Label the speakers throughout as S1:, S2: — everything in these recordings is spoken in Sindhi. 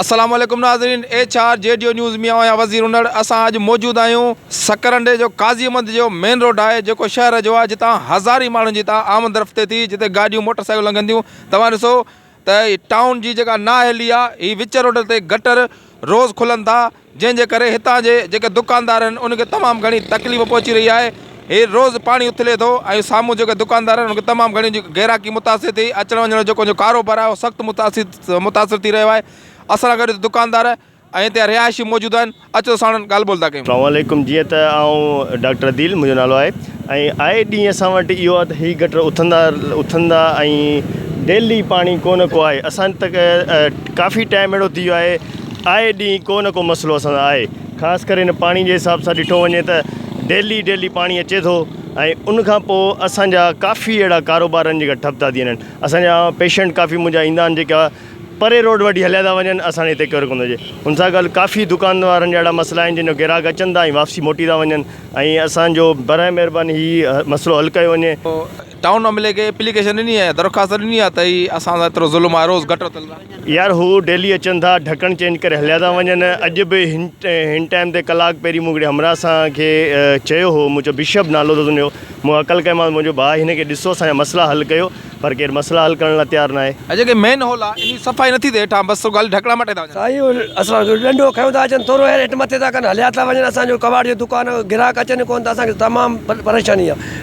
S1: السلام عليڪم ناظرين ايڇ آر جي ڊيو نيوز مي اوهان وزير انڙ اسان اڄ موجود آهيون سڪرنڊي جو قاضي احمد جو مين روڊ آهي جيڪو شهر جو آهي جتان هزارين ماڻهن جي تان آمد رفت ٿئي ٿي جتي گاڏيون موٽر سائيڪلون لنگهن ٿيون توهان ڏسو ته ٽائون جي جيڪا نااهلي آهي هي وچ روڊ تي گٽر روز کلن ٿا جنهن جي ڪري هتان جي جيڪي دڪاندار آهن ان کي تمام گهڻي تڪليف پهچي رهي آهي هي روز پاڻي اٿلي ٿو ۽ سامهون جيڪي دڪاندار آهن ان کي تمام گهڻي گهراڪي متاثر ٿي اچڻ وڃڻ جو جيڪو ڪاروبار آهي اهو سخت متاثر متاثر ٿي رهيو آهي اسان سان گڏ دڪاندار ۽ هتي رهائشي موجود آهن اچو ساڻن ڳالهه ٻولهه ٿا ڪيون. سلام عليڪم جيئن ته
S2: آئون ڊاڪٽر عديل منهنجو نالو آهي ۽ آئي ڏينهن اسان وٽ اهو آهي ته هي گٽر اٿندا اٿندا ۽ ڊيلي پاڻي ڪو نه ڪو آهي اسان تڪ ڪافي ٽائم اهڙو ٿي ويو آهي آء ڏينهن ڪو نه ڪو مسئلو اسان سان آهي خاص ڪري هن پاڻي جي حساب سان ڏٺو وڃي ته ڊيلي ڊيلي پاڻي اچي ٿو ۽ ان کان پوء اسان جا ڪافي اهڙا ڪاروبار آهن جيڪا ٺپ ٿا ٿي وڃن اسان جا پيشنٽ ڪافي منهنجا ايندا آهن جيڪا پري روڊ وٽي هليا ٿا وڃن اسان ڏي هتي ڪير ڪونه ٿو اچي ان سان گڏ ڪافي دڪان وارن جا اهڙا مسئلا آهن جن جو گراهڪ اچن ٿا ۽ واپسي موٽي ٿا وڃن ۽ اسان جو برائي مهرباني هي مسئلو حل ڪيو وڃي. ٽائون ايم ايل اي کي
S1: اپليڪيشن ڏني آهي درخواست ڏني آهي ته هي اسان سان ايترو ظلم آهي روز گٽر تل ٿا. يار هو ڊيلي
S2: اچن ٿا ڍڪڻ چينج ڪري هليا ٿا وڃن اڄ به هن هن ٽائيم تي ڪلاڪ پهرين مون هڪڙي همراهه سان کي چيو هو مون چيو بشپ نالو اٿس هن جو مون هڪل ڪيمانس مون چيو ڀاء هن کي ڏسو اسان جا مسئلا حل ڪيو پر ڪير مسئلا حل ڪرڻ لاء تيار ناهي. ۽ جيڪي مين هول آهي انهي
S1: صفائي نٿي ٿئي هيٺان بس رڳو خالي ڍڪڻا مٽي ٿا وڃن. سائين اهي اسان جو
S3: ڏنڊو کنيو ٿا اچن ٿورو هير هيٺ مٿي ٿا ڪن هليا ٿا وڃن اسان جو ڪٻاٽ جو دڪان گراهڪ اچن ئي ڪون ٿا اسان کي تمام پريشاني آهي.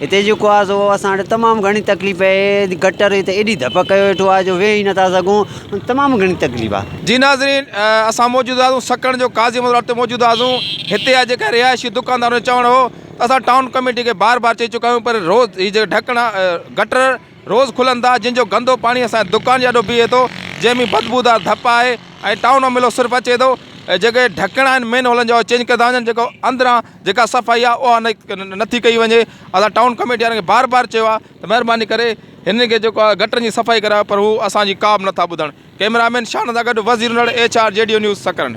S4: هتي جيڪو آهي سو اسان وٽ تمام گهڻي تڪليف اهي گٽر هتي ايڏي ڌپ ڪيو ويٺو آهي جو ويهي نٿا سگهون تمام گهڻي تڪليف آهي جي ناظرين
S1: اسان موجود آهيون سکڻ جو قاضي مزار تي موجود آهيون هتي آ جيڪا رهائشي دڪاندارن جو چوڻ هو ته اسان ٽائون ڪميٽي کي بار بار چئي چڪا آهيون پر روز هي جيڪا ڍڪڻا گٽر روز کلن ٿا جن جو گندو پاڻي اسان دڪان جي آڏو بيهي ٿو جنهن ۾ بدبودار ڌپ آهي ۽ ٽائون ملو صرف اچي ٿو جيڪي ڍڪڻا آهن مين هولن جا چينج ڪيو ٿا وڃن جيڪو اندران جيڪا صفائي آهي اها نٿي ڪئي وڃي اسان ٽائون ڪميٽي وارن کي بار بار چيو آهي ته مهرباني ڪري هنن کي جيڪو آهي گٽرن جي صفائي ڪرايو پر هو اسان جي ڪا به نٿا ٻڌن ڪئميرا مين شاهن سان گڏ وزير نڙ H R G D O news Sakrand.